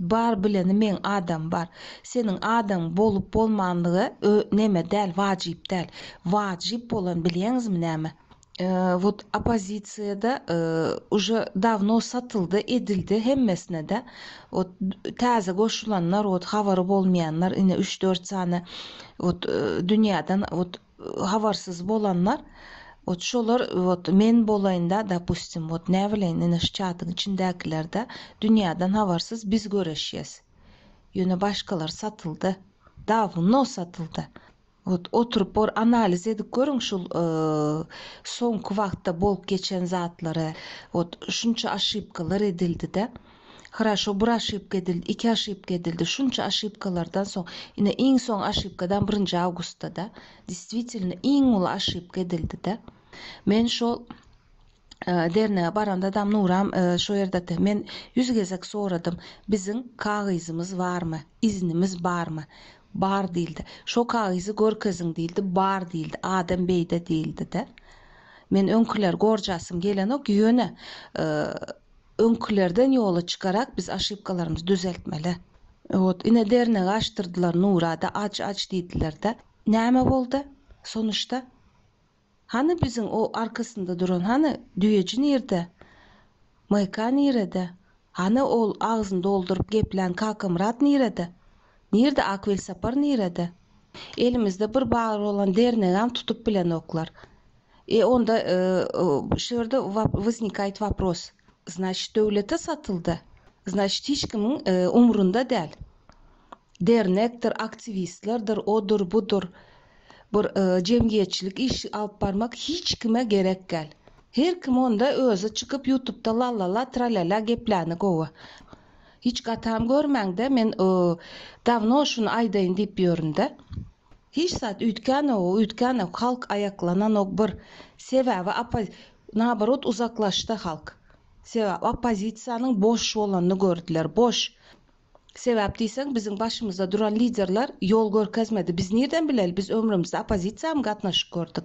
Bar bileni meň adam bar. Seniň adaň bolup bolmanlygy ö neme däl wajyp däl. Wajyp bolan bilýäňizmi näme? Ö wot opozisiýada ö uje dawno satyldy edildi hemmesine-de. Wot täze goşulanlar wot habary bolmaýanlar ine üç dört sany wot dünýäden wot habarsyz bolanlar ot şolar ot men bolaýynda dopustim ot näbileýin ine şu çatyň içindäkilerde dünýäden habarsyz biz göreşýäs ýöne başgalar satyldy dawno satyldy ot oturyp bor analiz edip görüň şul soňky wagtda bolup geçen zatlary ot şunça aşypkalar edildide. Hraşo bir aşypka edildi, iki aşypka edildi, şunça aşypkalardan soň, ine iň soň aşypkadan birinji awgustda-da, distwitelno iň uly aşypka edildi-de. Men şol dernege baranda dam Nuram şo ýerdede men ýüz gezek soradym, biziň kagyzymyz barmy, iznimiz barmy? Bar diýildi. Şo kagyzy görkeziň diýildi, bar diýildi, adam beýde diýildi-de. Men öňküleri gorjasym gelenok, ýöne Öňkülerden ýola çykarak biz aşypkalarymyzy düzeltmeli. Wot ine dernegi açdyrdylar Nurada aç aç diýdilerde näme boldy sonuşda? Hany biziň o arkasynda duran hany düýeji nirde? MK nirede? Hany ol agzyny dolduryp geplän Kakamyrat nirede? Nirde ak welsapar nirede? Elimizde bir bar bolan dernegäm tutup bilenoklar. E onda şu ýerde wysnikaýt wapros, znaçit döwlete satyldy, znaçit hiç kimiň umrunda däl. Dernekdir, aktiwistlerdir, odur, budur, bir jemgyýetçilik işi alyp barmak hiç kime gerek gäl. Her kim onda özi çykyp ýutubda lalala tralala gepläni gowy. Hiç gatam görmäňde men dawno şuny aýdaýyn diýip ýöründe. Hiç zat üýtgänogu üýtgänok halk aýaklananok bir sebäbi oppaz naborot uzaklaşdy halk sebäp oppozisiýanyň boş bolanyny gördüler boş sebäp diýseň biziň başymyzda duran liderler ýol görkezmedi biz nirden bileli biz ömrümizde oppozisiýamy gatnaşyk gördük.